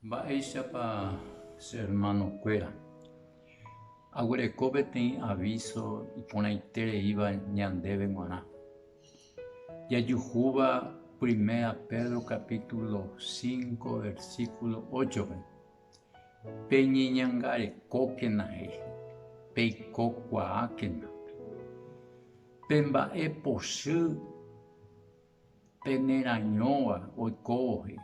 Mba'éichapa che ermanokuéra aguereko peteĩ avíso iporãitereíva ñandéve g̃uarã? Jajuhúva Primera Pedro kapítulo cinco versíkulo óchope, Peñeñangarekókena he'i, peikokuaákena pe mba'e pochy Penerañóva oikóvohe,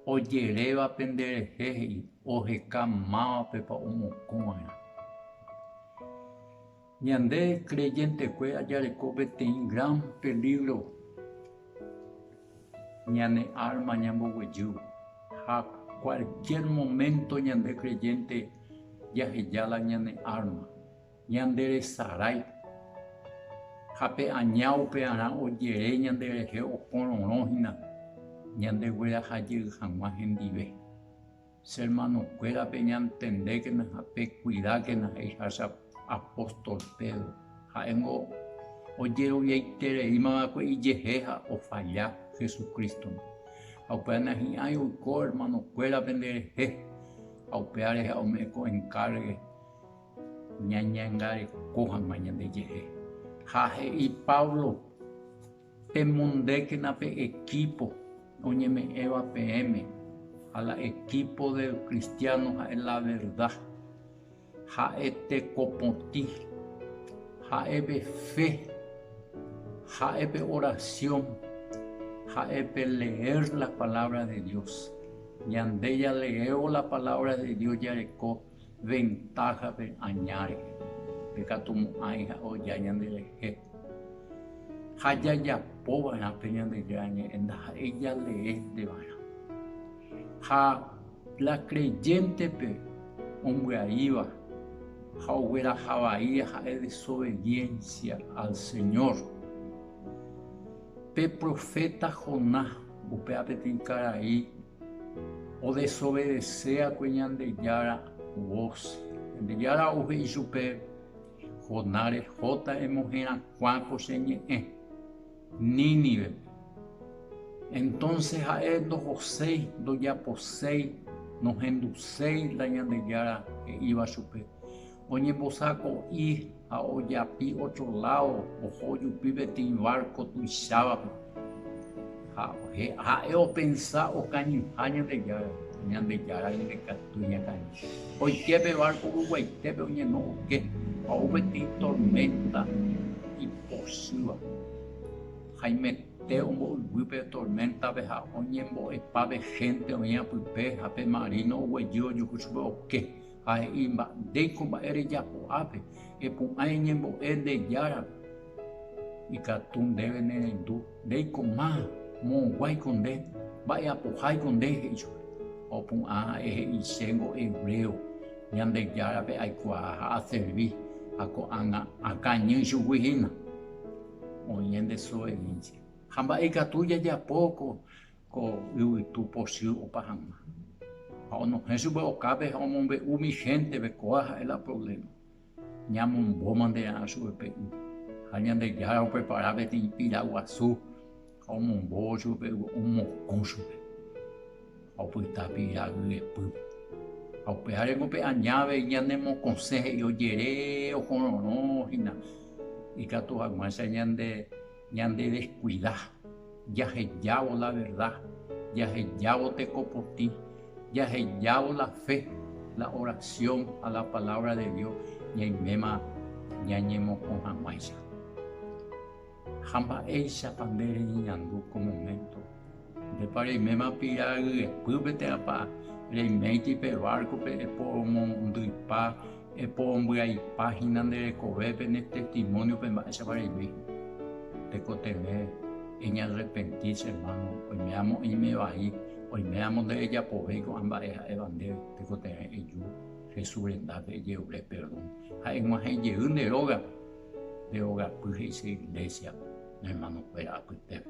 ojeréva pende rehe he'i, oheka mávapepa omokõ va'erã. Ñande kreyentekue jareko peteĩ gran pelígro ñane árma ñamboguejývo, ha kualkiér moménto ñande kreyénte jaheja la ñane árma. Ñande resarái, ha pe aña upearã ojere ñande rehe okororõ hína ñande gueraha jey hag̃ua hendive. Che hermanokuérape ñantendékena ha pekuidákena he'iha che apóstol Pedro. Ha'éngo ojeroviaitereíma va'ekue ijehe ha ofalla Jesucrístogui. Ha upéva nahi'ãi oiko hermanokuéra penderehe ha upéva rehe ome'ẽ ko enkárgue. Ñañangareko hag̃ua ñandejehe. Ha he'i Pablo, Pemondékena pe ekípo oñeme'ẽva peẽme, ha la ekípo de lcristiáno ha'e la verda. Ha'e tekopotĩ, ha'e pe fe, ha'e pe orasiõ, ha'e pe leér la palávra de Dios. Ñande jaleévo la palávra de Dios jareko. ventáhape aña rehe pekatumo'ãi ha oja ñanderehe. Ha jajapova'erã pe Ñandejára Ñe'ẽ ndaha'éi jaleénteva'erã. Ha la kreyéntepe ombyaíva ha oguerahavai ha'e desobediénsia al Señór. Pe proféta Jonás, upéva peteĩ karai, odesobedeséakue Ñandejára vos. Ñandejára ohe'i chupe, Jonás, rehóta emoherakuãko che ñe'ẽ Nínivepe. Entónse ha'e ndohoséi, ndojaposéi, nohenduséi la Ñandejára he'íva chupe. Oñembosako'i ha ojapi ótro ládo oho ojupi peteĩ várko tuichávape. Ha ha'e opensa okañyha Ñandejára, Ñandejára ñandekatúi ñakãri. Oike pe várko ruguaitépe oñeno oke ha ou peteĩ torménta ipochyva. Haimete ombo'yvy pe torméntape ha oñembo'epa pe hénte oĩva pype ha pe marino oguejy ojuhu chupe oke. ha he'i, Mba'éiko mba'e rejapo ápe, epu'ã eñembo'e nde Jára ikatu ndéve nerendu, ndeikoma, moõguáiko nde, mba'eapoháiko nde, he'i chupe. Ha opu'ã ha'e he'i, Chéngo hebreo, Ñandejárape aikuaa ha aservi, ha ko'ág̃a akañy ichugui hína, oĩ nde desobediencia. Ha mba'e ikatu jajapo ko Ko yvytu pochy opa hag̃ua, ha onohẽ chupe okápe ha omombe'u umi hénteve, Kóa ha'e la provléma. Ñamombóma nde a'a chupe pe y. Ha Ñandejára oprepara peteĩ pira guasu ha omombóvo chupe pe y omokõ chupe, ha opyta pira yvyepýpe. Ha upévare ko pe aña avei ñanemokõse he'i ojere ohorõrõ hína ikatu hag̃uáicha ñande. Ñandedeskuida, jahejávo la verda, jahejávo tekopotĩ, jahejávo la fe, la orasión ha la palávra de Dios ñaiméma ñañemokõ hag̃uáicha. Ha mba'éichapa nde reñeñandu ko moménto Ndépa reiméma pira yepy peteãpa, reiméiti pe várkope eporomondyipa, eporombyaipa hína nde rekovépe ne testimóniope mba'éichapa reime hína. Tekotevẽ eñarrepenti, che ermáno, oimé'amo eime vai, oimé'amo nderejapovéi ko'ã mba'e ha'éva ndéve, tekotevẽ eju Jesús rendápe ejerure perdón ha eg̃uahẽ jey nde rógape, nde rogapy he'ise Iglésiape ne ermanokuéra apytépe.